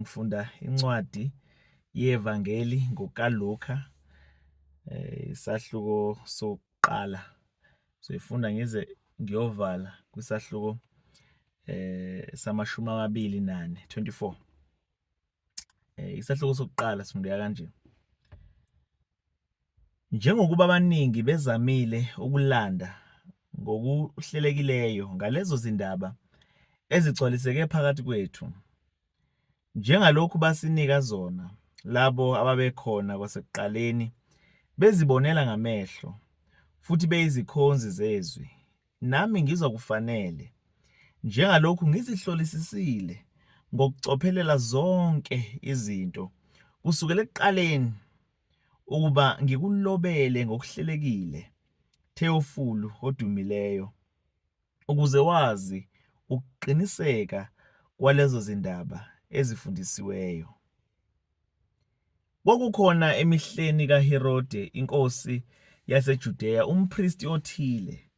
ngifunda incwadi yevangeli ngokaLuka eh, isahluko sokuqala soyifunda ngize ngiyovala kwisahluko eh samashumi amabili nane 24 eh isahluko sokuqala sifundeka kanje Njengokuba abaningi bezamile ukulanda ngokuhlelekileyo ngalezo zindaba ezigcwaliseke phakathi kwethu, njengalokhu basinika zona labo ababekhona kwasekuqaleni bezibonela ngamehlo futhi beyizikhonzi zezwi, nami ngizwa kufanele, njengalokhu ngizihlolisisile ngokucophelela zonke izinto kusukela ekuqaleni, ukuba ngikulobele ngokuhlelekile, Theofulu odumileyo. Ukuze wazi ukuqiniseka kwalezo zindaba ezifundisiweyo, kwakukhona emihleni kaHerode inkosi yaseJudeya umpristi othile,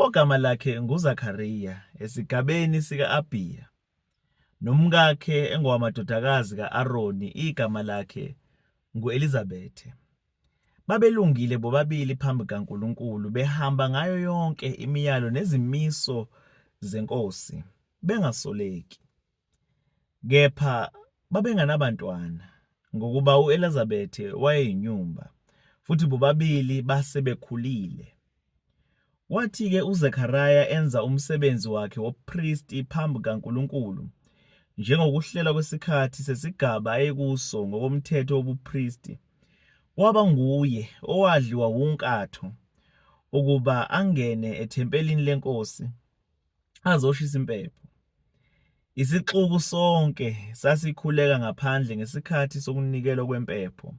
ogama lakhe nguZakariya, esigabeni sika-Abiya. nomkakhe engowamadodakazi ka-Aroni igama lakhe ngu-Elizabethe. Babelungile bobabili phambi kaNkulunkulu, behamba ngayo yonke imiyalo nezimiso zenkosi, bengasoleki. Kepha babenganabantwana, ngokuba u-Elizabethe wayeyinyumba, futhi bobabili base bekhulile. Kwathi-ke uZekariya enza umsebenzi wakhe wobupristi phambi kaNkulunkulu, njengokuhlelwa kwesikhathi sesigaba ayekuso ngokomthetho wobupristi, kwaba nguye owadliwa wunkatho ukuba angene ethempelini leNkosi. azoshisa impepho. Isixuku sonke sasikhuleka ngaphandle ngesikhathi sokunikelwa kwempepho.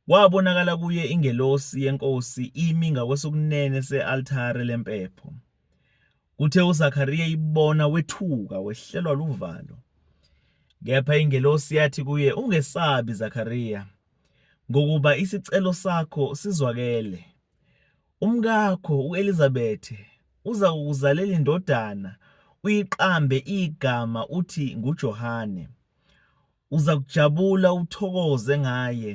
Kwabonakala kuye ingelosi yeNkosi imi ngakwesokunene se-altare lempepho. Kuthe uZakariya ibona wethuka wehlelwa luvalo. Kepha ingelosi yathi kuye, Ungesabi Zakariya, ngokuba isicelo sakho sizwakele. Umkakho u-Elizabethe uza kukuzalela indodana uyiqambe igama uthi nguJohane. Uza kujabula uthokoze ngaye,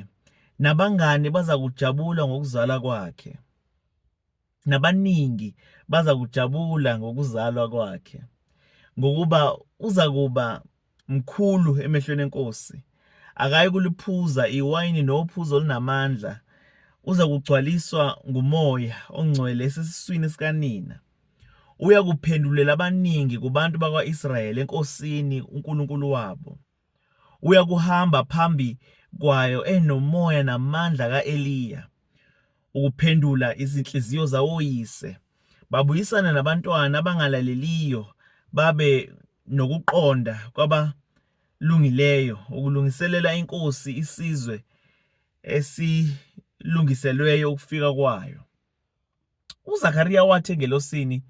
nabangani baza kujabula ngokuzala kwakhe, nabaningi baza kujabula ngokuzalwa kwakhe, ngokuba uza kuba mkhulu emehlweni enkosi akayi kuliphuza iwayini nophuzo olunamandla uza kugcwaliswa ngumoya ongcwele esesiswini sikanina uya kuphendulela abaningi kubantu bakwa-israyeli enkosini unkulunkulu wabo uya kuhamba phambi kwayo enomoya namandla ka-eliya ukuphendula izinhliziyo zawoyise, babuyisane nabantwana abangalaleliyo babe nokuqonda kwabalungileyo, ukulungiselela inkosi isizwe esilungiselweyo ukufika kwayo. UZakariya wathi engelosini,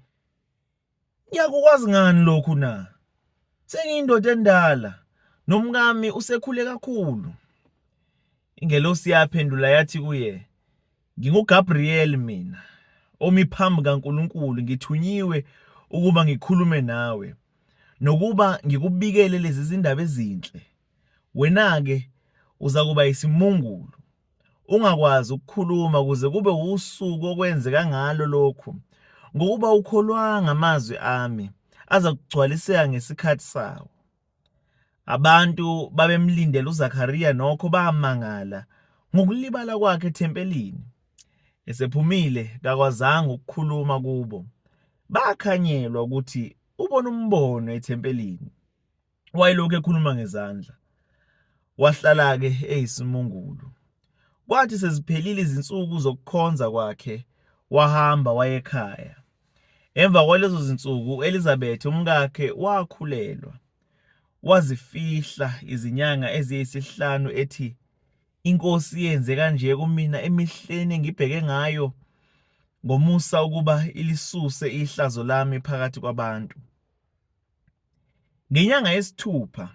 Ngiyakukwazi ngani lokhu na? Sengiyindoda endala nomkami usekhule kakhulu. Ingelosi yaphendula yathi kuye, NginguGabriel mina, omi phambi kaNkulunkulu, ngithunyiwe ukuba ngikhulume nawe nokuba ngikubikele lezi zindaba ezinhle. Wena-ke uza kuba yisimungulu ungakwazi ukukhuluma kuze kube wusuku okwenzeka ngalo lokhu, ngokuba ukholwanga amazwi ami aza kugcwaliseka ngesikhathi sawo. Abantu babemlindele uZakariya nokho bamangala ngokulibala kwakhe ethempelini. Esephumile kakwazanga ukukhuluma kubo. Bakhanyelwa ukuthi ubona umbono ethempelini. wayelokhu ekhuluma ngezandla wahlala-ke eyisimungulu kwathi seziphelile izinsuku zokukhonza kwakhe wahamba wayekhaya emva kwalezo zinsuku u-elizabeth umkakhe wakhulelwa wazifihla izinyanga eziyisihlanu ethi inkosi yenze kanje kumina emihleni engibheke ngayo ngomusa ukuba ilisuse ihlazo lami phakathi kwabantu Ngenyanga yesithupha,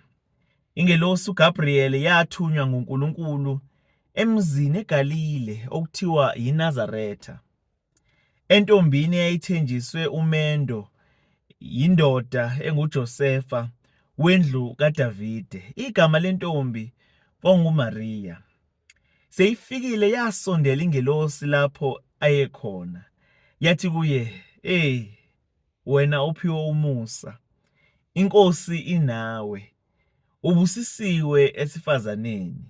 ingelosi uGabriyeli yathunywa nguNkulunkulu emzini eGalile okuthiwa yiNazaretha, entombini eyayithenjiswe umendo yindoda enguJosefa wendlu kaDavide. Igama lentombi kwakunguMariya. Seyifikile yasondela ingelosi lapho ayekhona, yathi kuye, Ey, wena ophiwe umusa, inkosi inawe, ubusisiwe esifazaneni.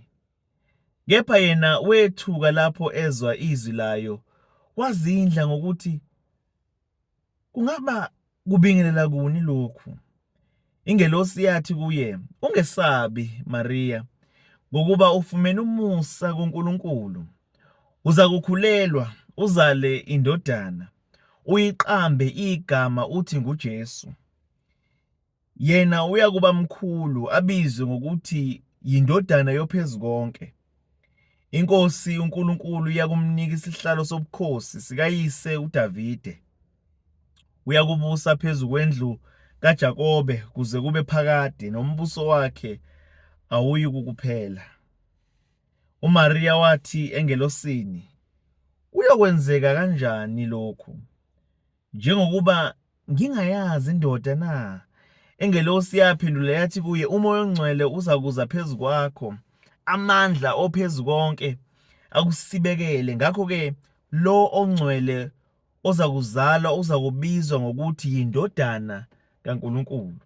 Kepha yena wethuka lapho ezwa izwi layo, wazindla ngokuthi, Kungaba kubingelela kuni lokhu? Ingelosi yathi kuye, Ungesabi, Mariya, ngokuba ufumene umusa kuNkulunkulu. Uza kukhulelwa, uzale indodana, uyiqambe igama uthi nguJesu. Yena uyakuba mkhulu, abizwe ngokuthi yiNdodana yoPhezukonke. INkosi uNkulunkulu iyakumnika isihlalo sobukhosi sikayise uDavide. Uyakubusa phezu kwendlu kaJakobe kuze kube phakade, nombuso wakhe awuyikukuphela. UMariya wathi engelosini, Kuyokwenzeka kanjani lokhu? Njengokuba ngingayazi indoda na? Ingelosi yaphendula yathi kuye, uMoya oNgcwele uzakuza phezu kwakho, amandla ophezu konke akusibekele. Ngakho-ke lo ongcwele ozakuzalwa uzakubizwa ngokuthi yindodana kaNkulunkulu.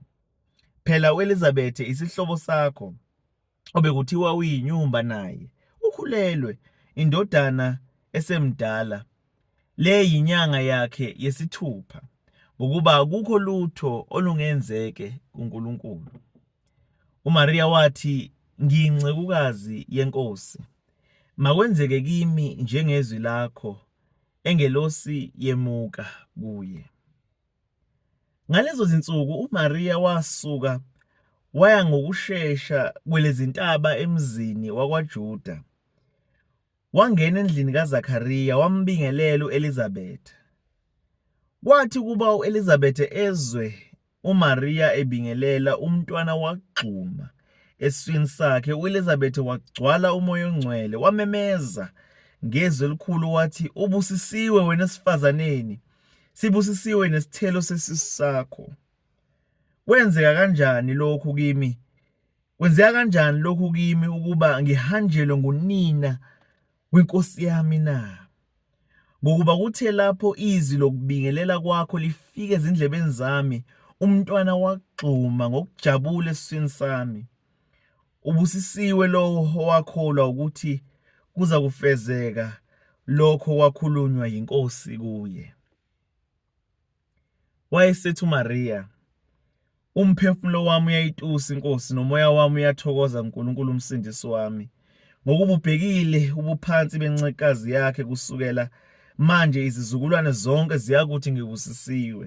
Phela uElizabethe isihlobo sakho obekuthiwa uyinyumba naye ukhulelwe indodana esemdala le yinyanga yakhe yesithupha ngokuba akukho lutho olungenzeke kuNkulunkulu. UMariya wathi, Ngiyincekukazi yeNkosi, makwenzeke kimi njengezwi lakho. Engelosi yemuka kuye. Ngalezo zinsuku uMariya wasuka waya ngokushesha kwelezintaba emzini wakwaJuda. Wangena endlini kaZakariya wambingelela uElizabeth. Kwathi kuba uElizabeth ezwe uMariya ebingelela umntwana wagxuma eswini sakhe uElizabeth wagcwala umoya ongcwele wamemeza ngezwi elikhulu wathi ubusisiwe wena esifazaneni Sibusisiwe nesithelo sesisu sakho. Kwenzeka kanjani lokhu kimi? Kwenzeka kanjani lokhu kimi ukuba ngihanjelwe ngunina wenkosi yami na? Ngokuba kuthe lapho izwi lokubingelela kwakho lifike ezindlebeni zami, umntwana wagxuma ngokujabula esiswini sami. Ubusisiwe lowo owakholwa ukuthi kuza kufezeka lokho kwakhulunywa yiNkosi kuye. Wayesethi uMariya, Umphefumulo wami uyayitusa iNkosi, nomoya wami uyathokoza uNkulunkulu uMsindisi wami, ngokububhekile ubuphansi bencekazi yakhe kusukela manje izizukulwane zonke ziyakuthi ngibusisiwe.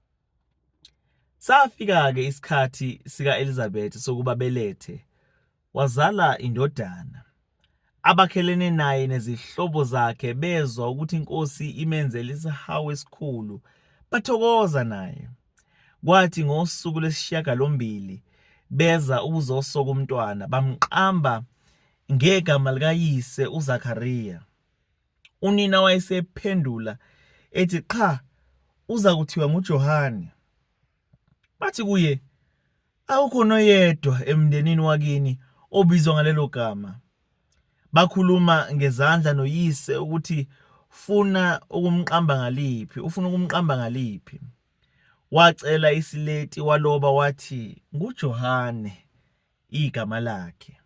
Safika-ke isikhathi sika-Elizabeth sokuba belethe, wazala indodana. Abakhelene naye nezihlobo zakhe bezwa ukuthi inkosi imenzele isihawu esikhulu, bathokoza naye. Kwathi ngosuku lesishiyagalombili beza ukuzosoka umntwana, bamqamba ngegama likayise uZakariya. Unina wayesephendula ethi, Qha, uza kuthiwa nguJohane. Bathi kuye, Akukho noyedwa emndenini wakini obizwa ngalelo gama. Bakhuluma ngezandla noyise ukuthi funa ukumqamba ngaliphi, ufuna ukumqamba ngaliphi. Wacela isileti waloba wathi nguJohane igama lakhe.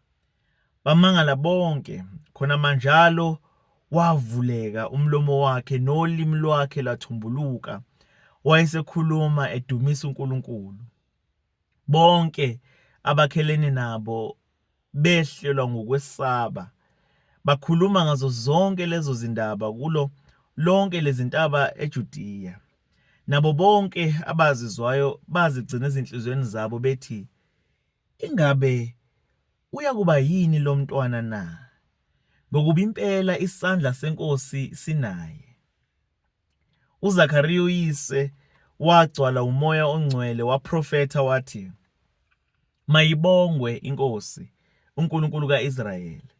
Bamangala bonke, khona manjalo wavuleka umlomo wakhe nolimi lwakhe lwathumbuluka. Wayesekhuluma edumisa uNkulunkulu. Bonke abakhelene nabo behlelwa ngokwesaba. Bakhuluma ngazo zonke lezo zindaba kulo lonke lezintaba eJudiya. Nabo bonke abazizwayo bazigcina ezinhliziyweni zabo bethi Ingabe uyakuba yini lo mntwana na? Ngokuba impela isandla seNkosi sinaye. UZakariya uyise wagcwala umoya ongcwele waprofetha wathi, Mayibongwe iNkosi, uNkulunkulu ka-Israyeli,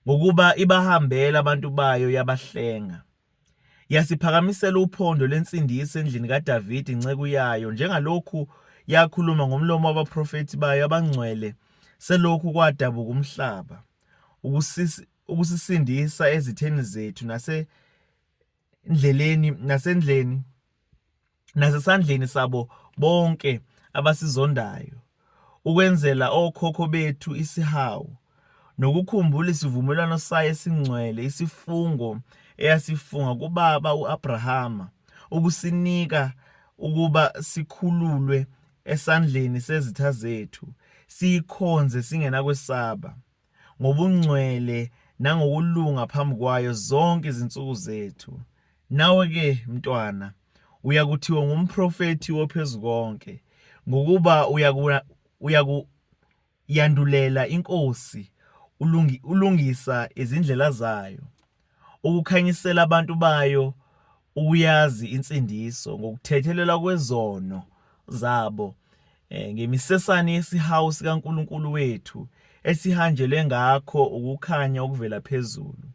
ngokuba ibahambela abantu bayo yabahlenga. Yasiphakamisela uphondo lwensindiso endlini kaDavidi inceku yayo, njengalokhu yakhuluma ngomlomo wabaprofethi bayo abangcwele selokhu kwadabuka umhlaba, ukusisindisa ezitheni zethu nasendleleni nasendleni nasesandleni sabo bonke abasizondayo, ukwenzela okhokho bethu isihawu, nokukhumbula isivumelwano sayo esingcwele, isifungo eyasifunga kubaba u-Abrahama, ukusinika ukuba sikhululwe esandleni sezitha zethu, siyikhonze singenakwesaba. ngobungcwele nangokulunga phambi kwayo zonke izinsuku zethu. Nawe-ke, mntwana, uyakuthiwa ngumprofethi wophezu konke, ngokuba uyakuyandulela inkosi, ulungisa izindlela zayo. ukukhanyisela abantu bayo ukuyazi insindiso ngokuthethelelwa kwezono zabo eh, ngemisesane yesihawu sikaNkulunkulu wethu esihanjelwe ngakho ukukhanya okuvela phezulu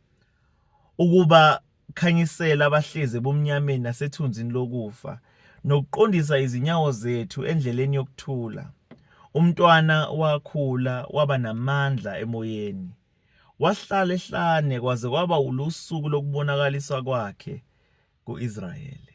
ukuba khanyisela abahlezi ebumnyameni nasethunzini lokufa nokuqondisa izinyawo zethu endleleni yokuthula umntwana wakhula waba namandla emoyeni Wahlala ehlane kwaze kwaba ulusuku lokubonakaliswa kwakhe ku-Israyeli.